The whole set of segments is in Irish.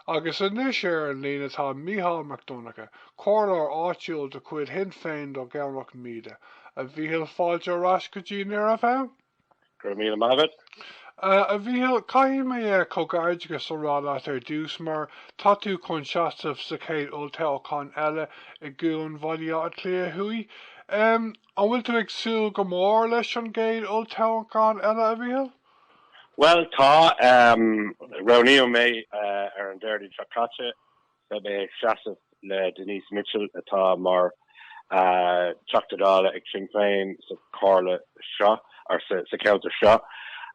Agus anois ar an líne tá Micheál Mac Donncha, comhairleoir áitiúil de chuid Shinn Féin do Dhomhnach Míde. A Mhichíl, fáilte ar ais go dtí Nuair a bhí ann! Go raibh míle maith agat. A Mhichíl, caithfidh mé comhghairdeachas a rá leat ar dtús, mar tá tú chun seasamh sa chéad olltoghchán eile i gCuan Bhaile Átha Cliath Thuaidh. An bhfuil tú ag súil go mór leis an gcéad olltoghchán eile, a Mhichíl? Bhuel, tá. Roghnaíodh mé ar an Déardaoin seo caite. Beidh mé ag seasamh le Denise Mitchell atá mar Teachta Dála ag Sinn Féin sa Chomhairle seo, ar sa cheantar seo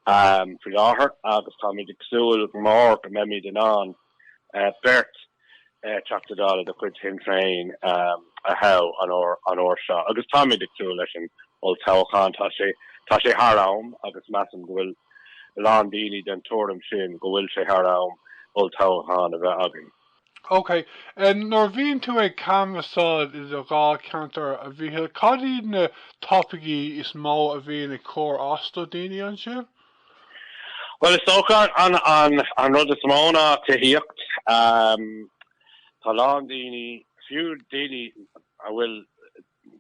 faoi láthair agus táimid ag súil go mór go mbeimid in ann beirt Teachta Dála de chuid Shinn Féin a thoghadh an uair seo agus táimid ag súil leis an olltoghchán. Tá sé thar am agus measaim go bhfuil a lán daoine den tuairim sin, go bhfuil sé thar am olltoghchán a bheith againn. OK. Nuair a bhíonn tú ag canbhasáil i do dháilcheantar, a Mhíchil, cad iad na topaicí is mó a bhíonn ag cur as do dhaoine ansin? Bhuel, is dócha an rud is mó ná tithíocht. Tá a lán daoine, fiú daoine a bhfuil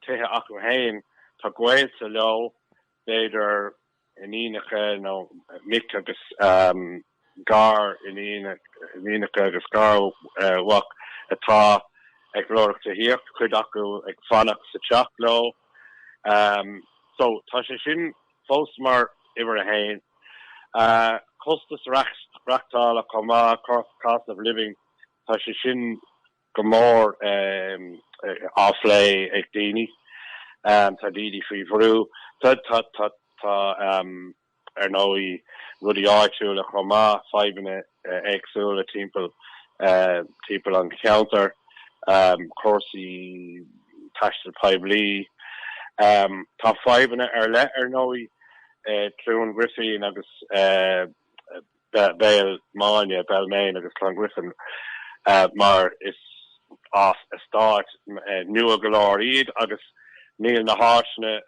tithe acu féin, tá gaolta leo, b'fhéidir iníonacha nó mic agus gariníonacha agus garmhac atá ag lorg tithíocht, cuid acu ag fanacht sa teach leo. So, tá sé sin fós mar uimhir a haon. Costas maireachtála chomh maith, cost of living, tá sé sin go mór á phlé ag daoine. Tá daoine faoi bhrú. Tá ar ndóigh rudaí áitiúla chomh maith, fadhbanna éagsúla timpeall timpeall an cheantair, cúrsaí taistil poiblí. Tá fadhbanna ar leith, ar ndóigh, i gCluain Ghrifín agus Belmayne, Belmayne agus Clongriffin, mar is. Is eastáit nua go leor iad agus níl na háiseanna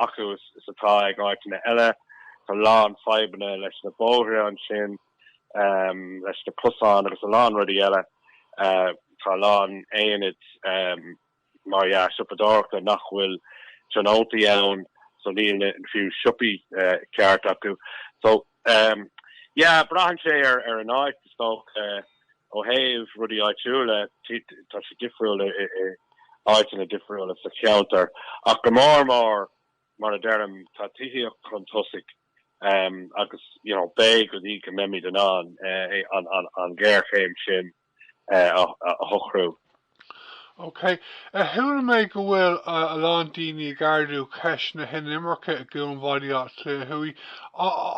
acu is atá ag áiteanna eile. Tá a lán fadhbanna leis na bóithre ansin, leis na cosáin agus a lán rudaí eile. Tá a lán aonad, mar dhea, siopadóireachta nach bhfuil tionóntaí ann, so níl na fiú siopaí ceart acu. Yeah, braitheann sé ar an áit, is dócha. Ó thaobh rudaí áitiúla, tá sé difriúil i áiteanna difriúla sa cheantar. Ach go mór mór, mar a deirim, tá tithíocht chun tosaigh agus, you know, b'fhéidir go mbeimid in ann an ghéarchéim sin, a shocrú. OK. Chuala mé go bhfuil a lán daoine ag ardú ceist na hinimirce i gCuan Bhaile Átha Cliath Thuaidh.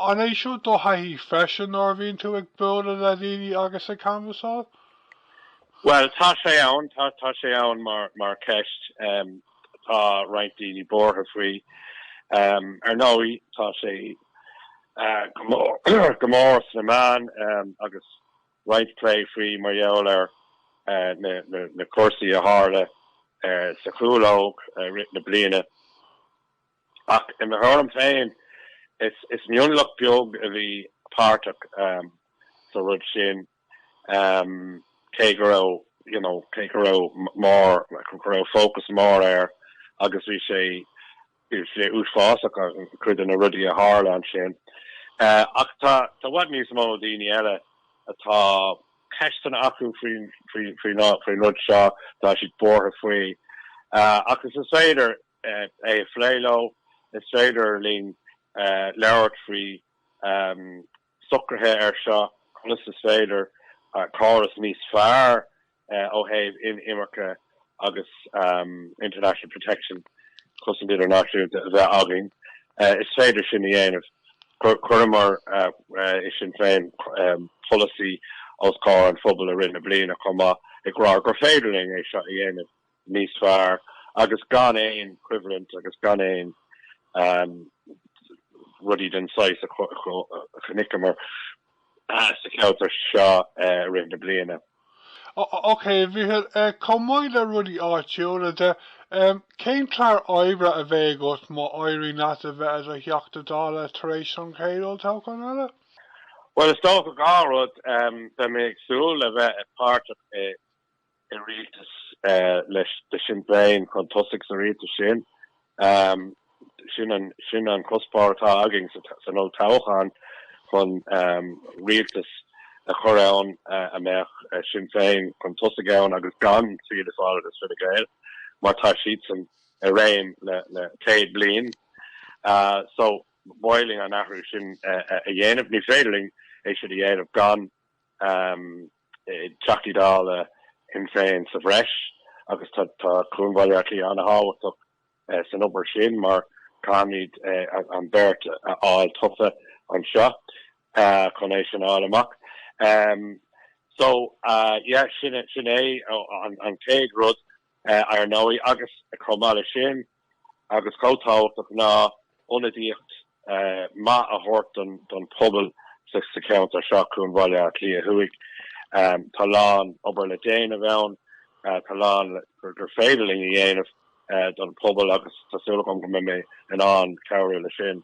An é seo do thaithí freisin nuair a bhíonn tú ag bualadh le daoine agus ag canbhasáil? Bhuel, tá sé ann, tá sé ann mar cheist. Tá roinnt daoine buartha faoi. Ar ndóigh, tá sé go mór sna meáin agus roinnt plé faoi mar gheall ar na cúrsaí a tharla sa gCúlóg i rith na bliana ach i mo thuairim féin is mionlach beag a bhí páirteach sa rud sin cé go raibh you know cé go raibh mór, go raibh fócas mór air agus bhí sé Bhí sé uafásach, cuid de na rudaí a tharla ansin. Ach tá i bhfad níos mó daoine eile atá ceisteanna acu faoin rud seo, tá siad buartha faoi. Agus is féidir é a phlé leo, is féidir linn labhairt faoi. socruithe ar seo, conas is féidir córas níos fearr ó thaobh inimirce agus international protection, cosaint idirnáisiúnta, a bheith againn. Is féidir sin a dhéanamh. Chuireamar i Sinn Féin polasaí os comhair an phobail i rith na bliana chomh maith ag rá gur féidir linn é seo a dhéanamh. níos fearr agus gan aon choimhlint agus gan aon rudaí den saghas a chonaiceamar sa cheantar seo i rith na bliana. OK, a Mhíchíl, chomh maith le rudaí áitiúla de, cén clár oibre a bheidh agat má éiríonn leat a bheith i do Theachta Dála tar éis an chéad olltoghcháin eile? Bhuel, is dócha dhá rud, beidh mé ag súil a bheith páirteach i i rialtas leis de Sinn Féin chun tosaigh sa rialtas sin. Sin an cuspóir atá againn san olltoghchán, chun rialtas a chur ann a mbeadh Sinn Féin chun tosaigh ann agus gan Fianna Fáil agus Fine Gael mar tá siadsan i réim le 100 bliain. So ba mhaith linn an athrú sin a dhéanamh. Ní féidir linn é sin a dhéanamh gan. Teachtaí Dála Shinn Féin sa bhreis agus tá Cuan Bhaile Átha Cliath an-tábhachtach san obair sin mar caithfimid an beart a fháil tofa anseo chun é sin a fháil amach. So, yeah, sin é an chéad rud, ar ndóigh, agus chomh maith leis sin, agus chomh tábhachtach ná ionadaíocht mhaith a thabhairt don phobal sa cheantar seo, Cuan Bhaile Átha Cliath Thuaidh. Tá a lán obair le déanamh ann, tá a lán gur féidir linn a dhéanamh don phobal agus tá súil agam go mbeidh mé in ann cabhrú leis sin.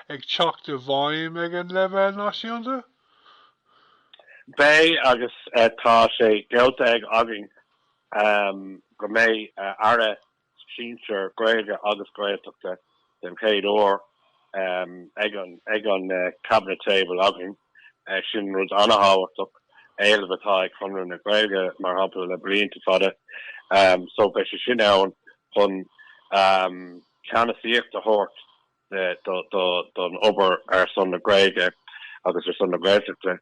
ag teacht i bhfeidhm ag an leibhéal náisiúnta? Beidh agus tá sé geallta ag againn go mbeidh Aire Sinsear Gaeilge agus Gaeltachta den chéad uair ag an Cabinet Table againn. Sin rud an-thábhachtach, éileamh atá ag Conradh na Gaeilge mar shampla le blianta fada so beidh sé sin ann chun ceannasaíocht a thabhairt don obair ar son na Gaeilge agus ar son na Gaeltachta.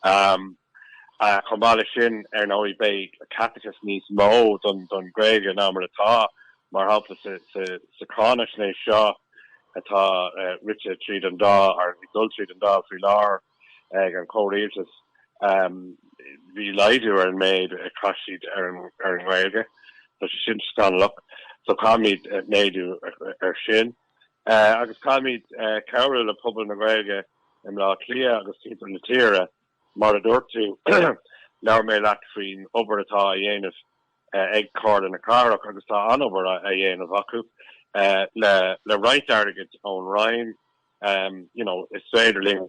Chomh maith leis sin, ar ndóigh, beidh caiteachas níos mó don Ghaeilge ná mar atá, mar shampla, sa cháinaisnéis seo atá rite tríd an Dáil, nó ag dul tríd an Dáil faoi láthair. ag an chomhrialtas, bhí laghdú ar an méid a chaith siad ar an nGaeilge. Tá sé sin scannalach. So caithfimid méadú ar sin. Agus caithfimid cabhrú le pobal na Gaeilge i mBleá Cliath agus timpeall na tíre. Mar a dúirt tú, labhair mé leat faoin obair atá á dhéanamh ag Comhairle na Cathrach agus tá an-obair á dhéanamh acu le roinnt airgid ón Roinn. you know, is féidir linn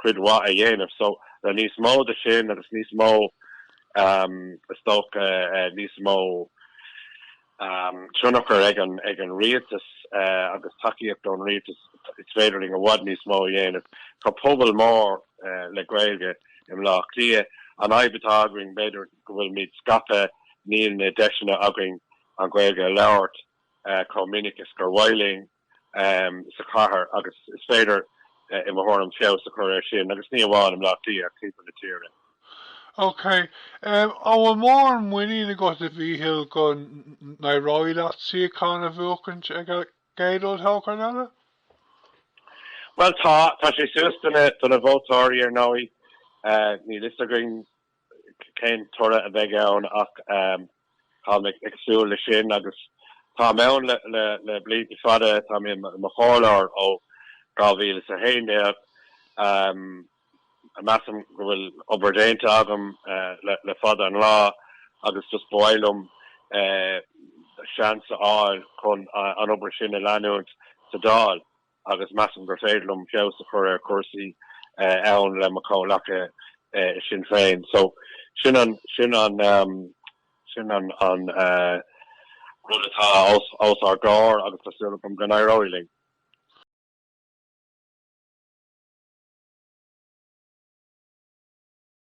cuid mhaith a dhéanamh. So, le níos mó de sin agus níos mó, um, is dócha, eh, níos mó, um, tionchar ag an, ag an rialtas, eh, agus tacaíocht ón rialtas, is féidir linn i bhfad níos mó a dhéanamh. Tá pobal mór, eh, le Gaeilge i mBleá Cliath. An fhadhb atá againn, b'fhéidir go bhfuilmid scaipthe, níl na deiseanna againn an Ghaeilge a labhairt, eh, chomh minic is gur mhaith linn. sa chathair agus is féidir, i mo thuairim, feabhas a chur air sin, agus ní amháin i mBleá Cliath ach timpeall na tíre. OK. An bhfuil mórán muiníne agat, a Mhíchíl, go n-éireoidh leat suíochán a bhuachaint ag an gcéad olltoghchán eile? Bhuel, tá. Tá sé suas do na vótóirí, ar ndóigh. Níl a fhios againn cén toradh a bheidh ann ach tá mé ag súil leis sin agus tá mé ann le blianta fada, tá mé i mo chomhairleoir ó 2011. Measaim go bhfuil obair déanta agam le fada an lá agus just ba mhaith liom seans a fháil chun an obair sin a leanúint sa Dáil. agus measaim gur féidir liom feabhas a chur ar chúrsaí ann le mo chomhleacaithe i Sinn Féin so sin an sin an sin an an rud atá os os ár gcomhair agus tá súil agam go n-éireoidh linn.